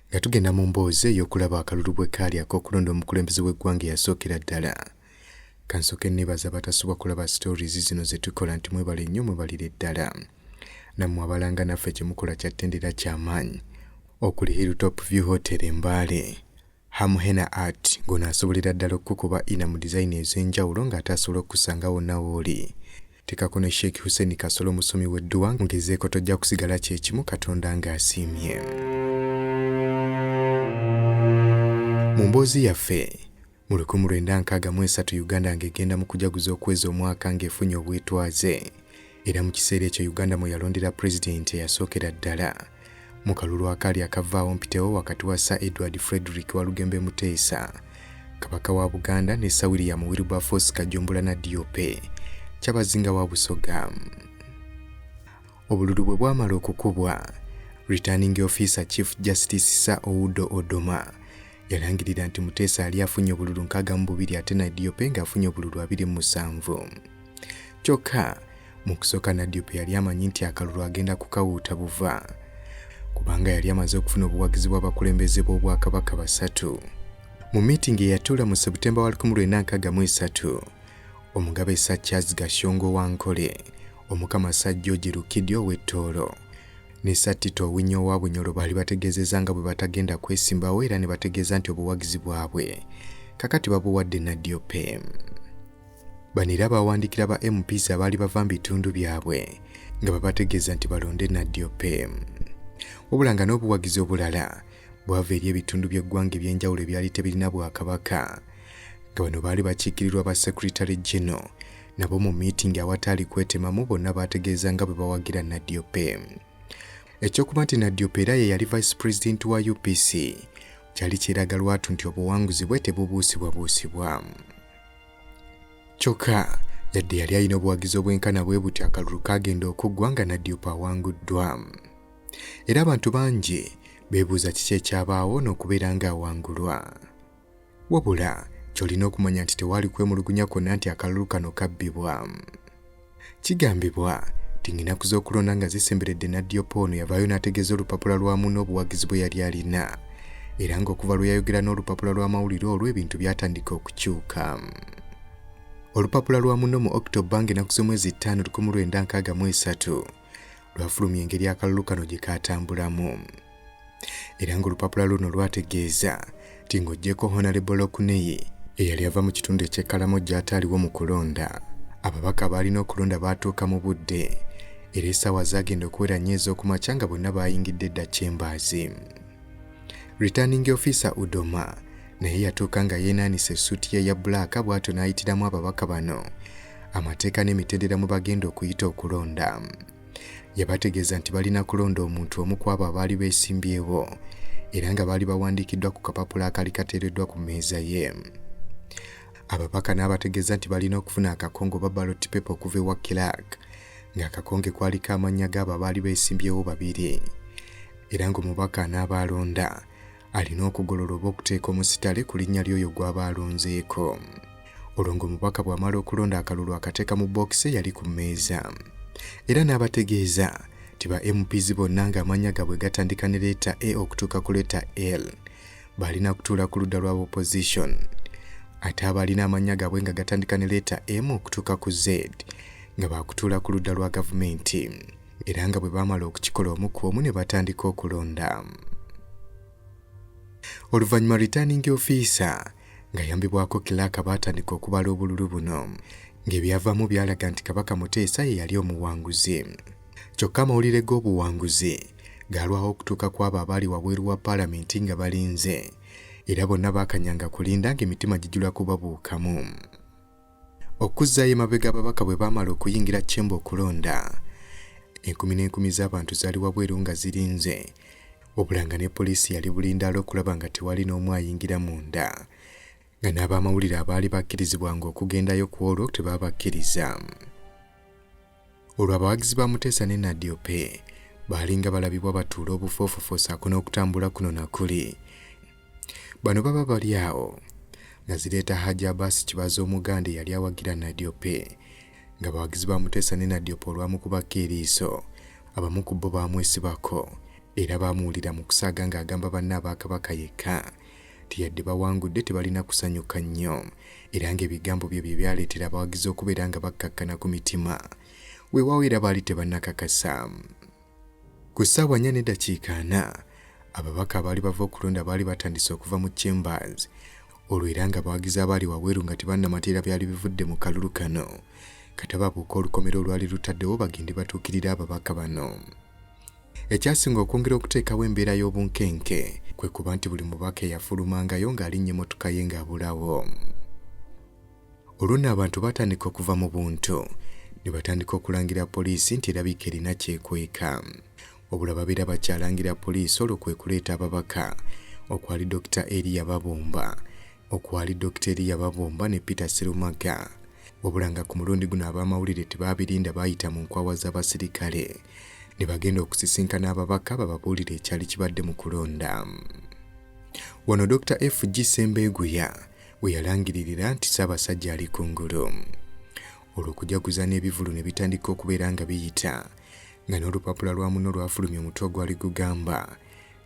Nga tugenda mu mboozi ey'okulaba akalulu bwe kaali ak'okulonda omukulembeze w'eggwanga eyasookera ddala, kansooke nneebaza abatasubwa kulaba stories zino ze tukola nti mwebale nnyo mwebalire ddala. Nammwe abalanga naffe kye mukola kya ttendo era kya maanyi. Okuli Hilltop View Hotel e Mbale, Ham Henna Art ng'ono asobolera ddala okukukuba ina mu dizayini ez'enjawulo ng'ate asobola okukusanga wonna w'oli. Teekako ne Sheikh Hussein Kasolo omusomi w'edduwa ng'ezeeko tojja kusigala kye kimu Katonda ng'asiimye. Mu mboozi yaffe mu lukumi lwenda nkaaga mu esatu Uganda ng'egenda mu kujaguza okwezi omwaka ng'efunye obwetwaze. era mu kiseera ekyo uganda mwe yalondera pulezidenti eyasookera ddala mu kalulu akaali akavaawo mpitewo wakati wa sir edward frederick walugembe muteesa kabaka wa buganda ne sir william wilberforce kajombula na diope kyabazinga wa busoga obululu bwe bwamala okukubwa returning officer chief justice sir oudo odoma yalangirira nti muteesa ali afunye obululu nkaaga mu bubiri ate na diope ng'afunye obululu abiri mu musanvu kyokka mu kusooka nadiope yali amanyi nti akalulu agenda kukawuuta buva kubanga yali amaze okufuna obuwagizi bw'abakulembeze b'obwakabaka basatu mu miitingi eyatuula mu sebutemba wa 1963 omugabe sa charles gashongo wa nkole omukama sa george lukidi ow'ettoolo ne sattita owinya owa bunyolo baali bategeezezza nga bwe batagenda kwesimbawo era ne bategeeza nti obuwagizi bwabwe kakati babuwadde nadiope Bano era baawandikira ba MPs abaali bava mu bitundu byabwe nga babategeeza nti balonde Nadiope. Wabula nga n'obuwagizi obulala bwava eri ebitundu by'eggwanga eby'enjawulo ebyali tebirina bwakabaka nga bano baali bakiikirirwa ba Secretary General nabo mu miitingi awataali kwetemamu bonna baategeeza nga bwe bawagira Nadiope. Ekyokuba nti Nadiope era ye yali Vice President wa UPC kyali kiraga lwatu nti obuwanguzi bwe tebubuusibwabuusibwa. kyokka yadde yali alina obuwagizi obwenkana bwe buti akalulu kaagenda okuggwa nga nadiopa awanguddwa era abantu bangi beebuuza kiki ekyabaawo n'okubeera ng'awangulwa wabula ky'olina okumanya nti tewaali kwemulugunya kwonna nti akalulu kano kabbibwa Kigambibwa nti ng'enaku z'okulonda nga zisemberedde Nadiopa ono yavaayo n'ategeeza olupapula lwa munne obuwagizi bwe yali alina era ng'okuva lwe yayogera n'olupapula lw'amawulire olwo ebintu byatandika okukyuka. Olupapula lwa munno mu October ng'enaku z'omwezi ttaano lukumi lwenda nkaaga mu esatu lwafulumya engeri akalulu kano gye kaatambulamu era ng'olupapula luno lwategeeza nti ng'oggyeko honalebol okuneyi eyali ava mu kitundu eky'ekkalamo gy'ataaliwo mu kulonda ababaka abaalina okulonda baatuuka mu budde era essaawa zaagenda okuwera nnyo ez'okumakya nga bonna baayingidde edda kyembaazi Returning Officer Udoma naye yatuuka nga yeenaanisa essuuti ye ya bbulaaka bw'atyo n'ayitiramu ababaka bano amateeka n'emitendera mu bagenda okuyita okulonda yabategeeza nti balina kulonda omuntu omu ku abo abaali beesimbyewo era nga baali bawandiikiddwa ku kapapula akali kateereddwa ku mmeeza ye ababaka n'abategeeza nti balina okufuna akakongo oba ballot paper okuva ewa kilak ng'akakonge kwaliko amannya g'abo abaali beesimbyewo babiri era ng'omubaka anaaba alonda alina okugolola oba okuteeka omusitale ku linnya ly'oyo gw'aba alonzeeko olwo ng'omubaka bw'amala okulonda akalulu akateeka mu bookisi eyali ku mmeeza era n'abategeeza nti ba mps bonna ng'amannya gaabwe gatandika ne leeta a okutuuka ku leeta l baalina kutuula ku ludda lwa opposition ate abaalina amannya gaabwe nga gatandika ne leeta m okutuuka ku z nga baakutuula ku ludda lwa gavumenti era nga bwe baamala okukikola omu ku omu ne batandika okulonda oluvannyuma returning ofiisa ng'ayambibwako kilaaka baatandika okubala obululu buno ng'ebyavaamu byalaga nti kabaka muteesa ye yali omuwanguzi kyokka amawulire g'obuwanguzi gaalwawo okutuuka ku abo abaali wabweru wa paalamenti nga balinze era bonna baakanyanga kulinda ng'emitima gijula kubabuukamu Okuzzaayo emabega ababaka bwe baamala okuyingira Chemba okulonda, enkumi n'enkumi z'abantu zaali wabweru nga zirinze obulanga ne poliisi yali bulindaala okulaba nga tewali n'omu ayingira munda nga n'abaamawulire abaali bakkirizibwanga okugendayo ku olwo tebabakkiriza. Olwo abawagizi ba Muteesa ne Nadiope baalinga balabibwa batuula obufoofofo saako n'okutambula kuno na kuli. Bano baba bali awo nga zireeta Hajji Abaasi Kibaza Omuganda eyali awagira Nadiope nga bawagizi ba Muteesa ne Nadiope olwamukubako eriiso abamu ku bo baamwesibako era baamuwulira mu kusaaga ng'agamba banne aba Kabaka yekka nti yadde bawangudde tebalina kusanyuka nnyo era ng'ebigambo bye bye byaleetera abawagizi okubeera nga bakkakkana ku mitima weewaawo era baali tebannakakasa ku ssaawa nnya n'eddakiika ana ababaka abaali bava okulonda baali batandise okuva mu chambers olwo era nga abawagizi abaali wabweru nga tebannamateera byali bivudde mu kalulu kano katababuuka olukomera olwali lutaddewo bagende batuukirira ababaka bano Ekyasinga okwongera okuteekawo embeera y'obunkenke kwe kuba nti buli mubaka eyafulumangayo ng'alinnya emmotoka ye ng'abulawo. Olwo nno abantu baatandika okuva mu buntu ne batandika okulangira poliisi nti erabika erina kyekweka. Wabula babeera bakyalangira poliisi olwo kwe kuleeta ababaka okwali Dokita Eria Babumba okwali Dokita Eriya Babomba ne Peter Sserumagga wabula nga ku mulundi guno ab'amawulire tebaabirinda baayita mu nkwawa z'abasirikale ne bagenda okusisinkana ababaka bababuulire ekyali kibadde mu kulonda wano Dokita FG Sembeeguya we yalangiririra nti Ssaabasajja ali ku ngulu olwo okujaguza n'ebivulu ne bitandika okubeera nga biyita nga n'olupapula lwa muno lwafulumya omutwe ogwali gugamba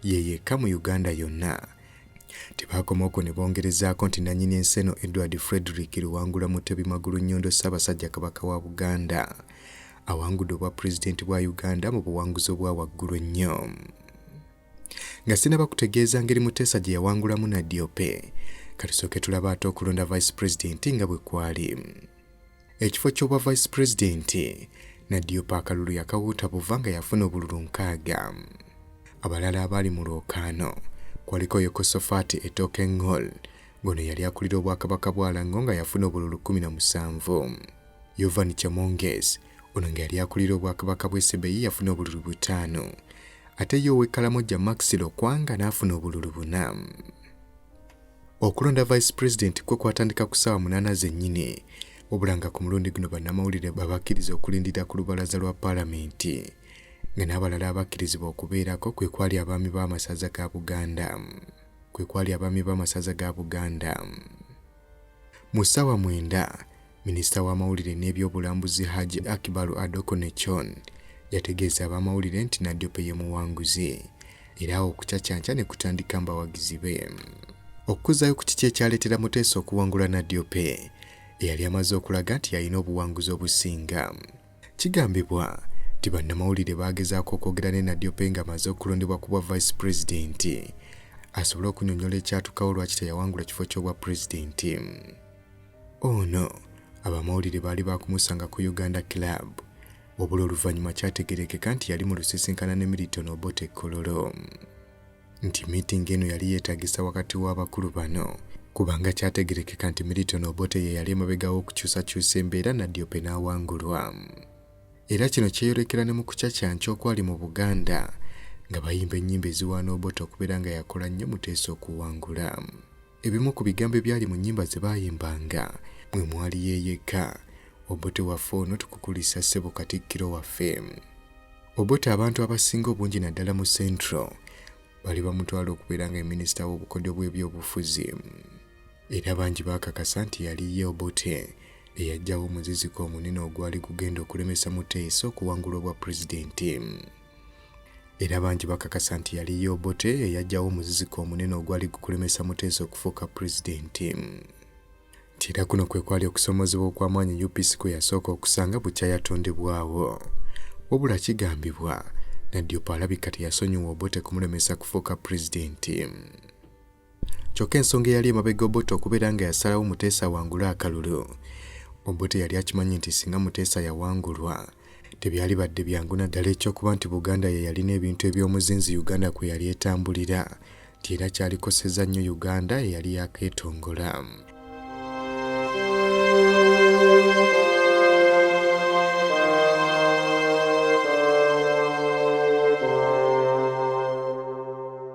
ye yekka mu Uganda yonna. Tebaakoma okwo ne bongerezaako nti nannyini ensi eno Edward Frederick Luwangula Mutebi Magulunnyondo Ssaabasajja Kabaka wa Buganda awangudde obwa pulezidenti bwa Uganda mu buwanguzi obwa waggulu ennyo. Nga sinaba kutegeeza ngeri Muteesa gye yawangulamu Nadiope, katusooke tulaba ate okulonda vice pulezidenti nga bwe kwali. Ekifo ky'obwa Vice President, Nadiopa akalulu yakawuuta buva nga yafuna obululu nkaaga. Abalala abaali mu lwokaano kwaliko Yekosofaati Etooke Ngol, ngono yali akulira obwakabaka bwa Lango nga yafuna obululu kkumi na musanvu. Yovan Chemonges, ono nga yali akulira obwakabaka bw'e Sebei yafuna obululu butaano ate ye ow'e Kalamoja Max Lokwanga n'afuna obululu buna. Okulonda Vice President kwe kwatandika ku ssaawa munaana zennyini wabula nga ku mulundi guno bannamawulire babakkiriza okulindira ku lubalaza lwa paalamenti nga n'abalala abakkirizibwa okubeerako kwe kwali abaami b'amasaza ga Buganda kwe kwali abaami b'amasaza ga Buganda mu ssaawa mwenda Minisita w'amawulire n'ebyobulambuzi Haji Akibalu Adokonechon yategeeza abamawulire nti Nadiope ye muwanguzi era awo okucacanca ne kutandika mbawagizi be okukuzaayo ku kiki ekyaleetera Muteesa okuwangula Nadiope eyali amaze okulaga nti yalina obuwanguzi obusinga kigambibwa nti bannamawulire baagezaako okwogera ne Nadiope nga amaze okulondebwa ku bwa vice pulezidenti asobole okunyonyola ekyatukawo lwaki teyawangula kifo ky'obwa pulezidenti Ono abamawulire baali baakumusanga ku Uganda Club wabula oluvannyuma kyategerekeka nti yali mu lusisinkana ne Milton Obote Kololo nti miitingi eno yali yeetagisa wakati w'abakulu bano kubanga kyategerekeka nti Milton Obote ye yali emabega w'okukyusakyusa embeera Nadiope n'awangulwa era kino kyeyolekera ne mu kucacanca okwali mu Buganda nga bayimba ennyimba eziwaana Obote okubeera nga yakola nnyo Muteesa okuwangula. Ebimu ku bigambo ebyali mu nnyimba ze baayimbanga mwe mwali yeeyekka Obote waffe ono tukukulisa ssebo Katikkiro waffe. Obote abantu abasinga obungi naddala mu Central bali bamutwala okubeera nga minisita w'obukodyo bw'ebyobufuzi era bangi baakakasa nti yali ye Obote eyajjawo omuziziko omunene ogwali gugenda okulemesa Muteesa okuwangula obwa pulezidenti. era bangi bakakasa nti yali ye Obote eyajjawo omuziziko omunene ogwali gukulemesa Muteesa okufuuka pulezidenti nti era kuno kwe kwali okusoomoozebwa okw'amaanyi UPC kwe yasooka okusanga bukya yatondebwawo wabula kigambibwa Nadiopa alabika teyasonyiwa Obote kumulemesa kufuuka pulezidenti kyokka ensonga eyali emabega obote okubeera nga yasalawo muteesa awangule akalulu obote yali akimanyi nti singa muteesa yawangulwa tebyali badde byangu naddala ekyokuba nti buganda ye yalina ebintu eby'omuzinzi uganda kwe yali etambulira nti era kyalikoseza nnyo uganda eyali yakeetongola